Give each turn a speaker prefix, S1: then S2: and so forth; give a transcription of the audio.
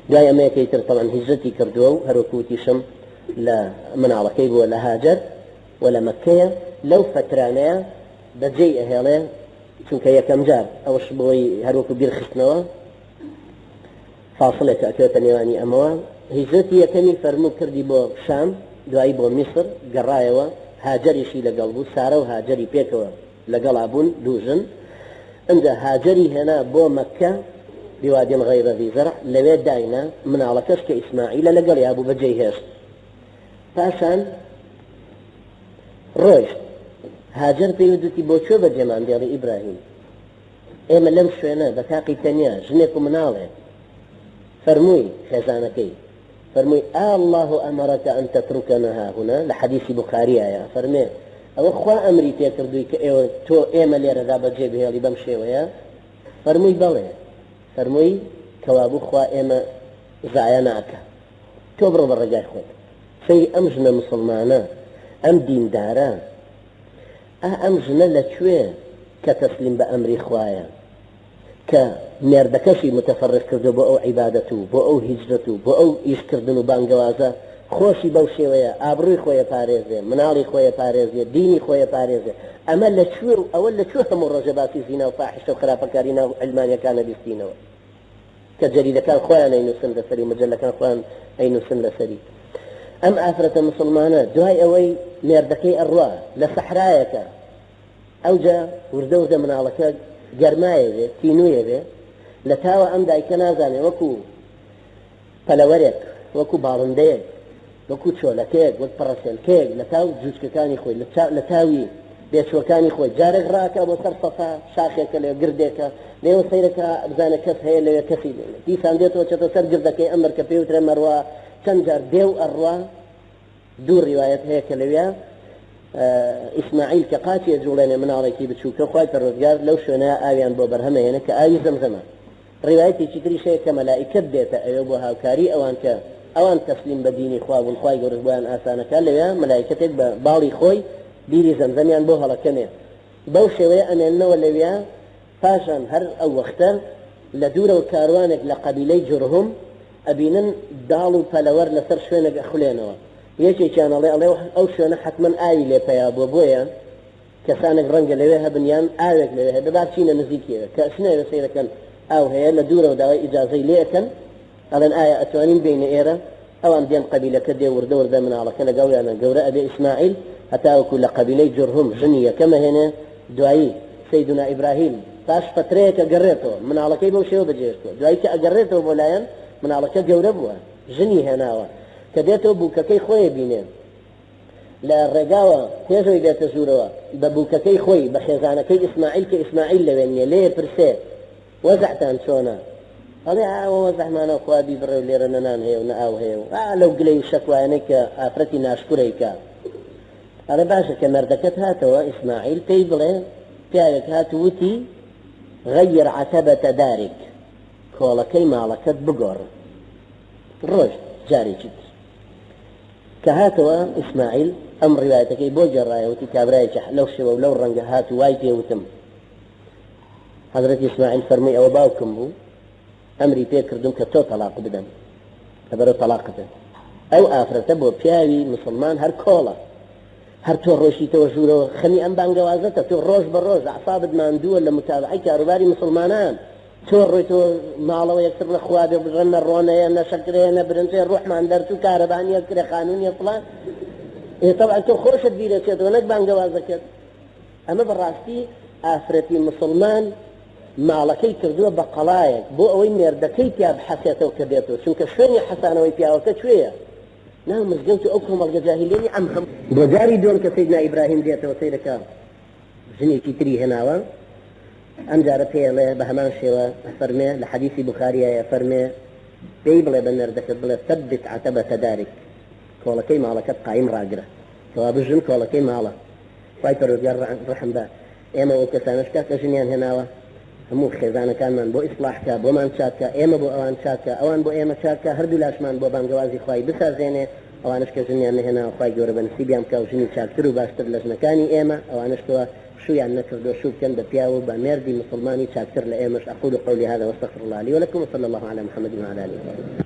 S1: دوای ئەمەیەکەی تر تەبعەن هیجرەتی کردووە و هەروەکو وتیشم لە مناڵەکەی بووە لە هاجەر و لە مەککەیە لەو فەترانەیە بەجێی ئەهێڵێ چونکە یەکەم جار ئەوش بۆی هەروەکو بیرخستنەوە فاصلێک ئەکرێتە نێوانی ئەمەوە هیجرەتی یەکەمی فەرموو کردی بۆ شام دوایی بۆ میسر گەڕایەوە هاجریشی لەگەڵ بوو سارە و هاجری پێکەوە لەگەڵا بوون دوو ژن ئنجا هاجەری هێنا بۆ مەککە بوادین غەیرە ذی زرع لەوێ داینا مناڵەکەش کە ئیسماعیلە لەگەڵیا بوو بەجێی هێشت پاشان ڕۆیشت هاجەر پێی ودتی بۆ کوێ بەجێمان دێڵی ئیبراهیم ئێمە لەم شوێنە بە تاقی تەنیا ژنێک و مناڵێ فەرمووی خێزانەکەی فەرمووی، آ اللە امرک ان تترکنا هاهنا، لە حەدیسی بوخارییایە، ئەفەرمێ، ئەوە خوا ئەمری پێ کردووی کە ئێوە، تۆ، ئێمە لێرەدا بە جێ بهێڵی بەم شێوەیە؟ فەرمووی، بەڵێ. فەرمووی، کەوابوو خوا ئێمە زایا ناکا. تۆ بڕۆ بە ڕێگای خۆت. سەیری ئەم ژنە موسڵمانە، ئەم دیندارە، ئا ئەم ژنە لە کوێ کە تەسلیم بە ئەمری خوایە؟ کە مێردەکەشی متفرغ کردووە بۆ ئەو عیبادەت و بۆ ئەو هیجرەت و بۆ ئەو ئیش کردن و بانگەوازە، خۆشی بەو شێوەیە ئابڕووی خۆی ئەپارێزێ، مناڵی خۆی ئەپارێزێ، دینی خۆی ئەپارێزێ، ئەمە لە کوێ و ئەوە لە کوێ هەموو ڕۆژێ باسی زینا و فاحیشە و خراپەکاری ناو عەلمانیەکان ئەبیستینەوە کە جەریدەکان خۆیان ئەینووسن لەسەری و مەجەلەکان خۆیان ئەینووسن لەسەری ئەم ئافرەتە موسڵمانە دوای ئەوەی مێردەکەی ئەڕوا لە سەحرایەکە ئەوجە وردە وردە مناڵەکە گەرمایێ بێ تینوویێ بێ لە تاوە ئەم دایکە نازانێ وەکو پەلەوەرێک وەکو باڵندەیەک وەکو چۆلەکەیەک وەک پەڕەسێلکەیەک لە تاو جوجکەکانی خۆی لە تاوی بێچووەکانی خۆی جارێک ڕاکا بۆ سەر سەفا شاخێکە لێ گردێکە لێوە سەیرەکە بزانە کەس هەیە لەوێ کەسی دیسان دێتەوە چێتە سەر گردەکەی ئەمەر کە پێوترە مەڕوا چەند جار دێو ئەڕوا دوو ڕیوایەت هەیە کە لەویا ئیسماعیل کە قاچی ئەجوڵێنێ مناڵێکی بچووکە خوای پەروەردگار لەو شوێنە ئاویان بۆ بەرهەمەیەنە کە ئاوی زەمزەمە ڕیوایەتێکی تریش هەیە کە مەلائیکەت دێتە ئەوێ بۆ هاوکاری ئەوان کە ئەوان تەسلیم بە دینی خوا بوون خوای گەورەش بۆیان ئاسانەکە لەوێ مەلایکەتێک بە باڵی خۆی بیری زەمزەمیان بۆ هەڵەکەنێ بەو شێوەیە ئەمێننەوە لەوێ پاشان هەر ئەو وەختە لە دوورەوە کاروانێک لە قەبیلەی جورهم ئەبینن داڵ و پەلەوەر لەسەر شوێنێک ئەخولێنەوە یەکێکیان ئەڵێ ئەڵێ ئەو شوێنە حەتمەن ئاوی لێ پەیا بووە بۆیە کەسانێک ڕەنگە لەوێ هەبن یان ئاوێک لەوێ هەیە بە با بچینە نزیکی ئەوێ کە ئەچنە ئەوێ سەیرەکەن ئاو هەیە لە دوورەوە داوای ئیجازەی لێ ئەکەن ئەڵێن ئایا ئەتوانین بێینە ئێرە ئەوان دێن قەبیلەکە دێ وردە وردە مناڵەکە لەگەڵیانە گەورە ئەبێ ئیسماعیل هەتاوەکو لە قەبیلەی جورهم ژنی یەکەم ئەهێنێ دوایی سەیدونا ئیبراهیم پاش فەترەیەک ئەگەڕێتەوە مناڵەکەی بەو شێوە بەجێهێشتووە دوایی کە ئەگەڕێتەوە بۆ لایان مناڵەکە گەورە بووە ژنی هێناوە کە دێتەوە بووکەکەی خۆی ئەبینێ لە ڕێگاوە پێش ئەوی بێتە ژوورەوە بە بووکەکەی خۆی بە خێزانەکەی ئیسماعیل کە ئیسماعیل لەوێ نییە لێ ئەپرسێ وەزعتان چۆنە؟ ئەڵێ ئا ئەوە وەزعمانە خوا بیبڕێ و لێرە نە نان هەیە و نە ئاو هەیە و ئا لەو گلەی و شەکوایانەی کە ئافرەتی ناشکورە ئیکا. ئەڵێ باشە کە مەردەکەت هاتەوە، ئیسماعیل، پێی بڵێ پیاوێک هات و وتی، غیر عتبە دارک، کۆڵەکەی ماڵەکەت بگۆڕ. ڕۆشت جارێکی تر کە هاتەوە، ئیسماعیل ئەم ڕیوایەتەکەی بۆ گێڕایە وتی کابرایەکی لەو شێوە و لەو ڕەنگە هات و وای پێ وتم، حەزرەتی ئیسماعیل فەرمووی، ئەوە باوکم بوو، ئەمری پێ کردووم کە تۆ تەڵاق بدەم، کە بەرەو تەڵاقت بێت. ئەو ئافرەتە بۆ پیاوی موسڵمان هەر کۆڵە. هەر تۆ ڕۆیشتیتەوە ژوورەوە، خەمی ئەم بانگەوازەتە، تۆ ڕۆژ بە ڕۆژ ئەعسابت ماندووە لە موتابەعەی کاروباری موسڵمانان، تۆ ڕۆیتەوە ماڵەوە یەکتر نە خوا بێ بژە، نە ڕۆن هەیە، نە شەکر هەیە، نە برنج هەیە، ڕۆحمان دەرچوو، کارەبا نییە، کرێخانوو نییە، فڵان. ئێ تەبعەن تۆ خۆشت بیرەچێتەوە نەک بانگەوازەکەت. ئەمە بەڕاستی ئافرەتی موسڵمان ماڵەکەی کردووە بە قەڵایەک بۆ ئەوەی مێردەکەی پیا بحەسێتەوە کە بێتۆ چونکە شوێنی حەسانەوەی پیاوەکە کوێیە ناو مزگەوت و ئەو کۆمەڵگە جاهیلیەی ئەم هەموو بۆ جاری دووەم کە سەیدنا ئیبراهیم دێتەوە سەیرەکە ژنێکی تری هێناوە ئەم جارە پێڵێ بە هەمان شێوە فەرمێ لە حەدیثی بخاریایە فەرمێ پێی بڵێ بە مێردەکەت بڵێ ثبت عتبە تدارک کۆڵەکەی ماڵەکەت قایم ڕاگرە کەوا بژن کۆڵەکەی ماڵە خوای پەروەردگار ڕەحم بە ئێمە و ئەو کەسانەش کات کە ژنیان هێناوە هەموو خێزانەکانمان بۆ ئیسڵاح کا بۆمان چاک کا ئێمە بۆ ئەوان چاک کا ئەوان بۆ ئێمە چاک کا هەردوو لاشمان بۆ بانگەوازی خوای بسازێنێ ئەوانەش کە ژنیان نەهێناوە خوای گەورە بە نسیبیان بکا و ژنی چاکتر و باشتر لە ژنەکانی ئێمە ئەوانەش کوا شوویان نەکردوە شوو بکەن بە پیاو و بە مێردی موسڵمانی چاکتر لە ئێمەش اقول قولی هذا واستغفر الله لی ولکم وصلی الله علی محمد وعلی آله وصحبه.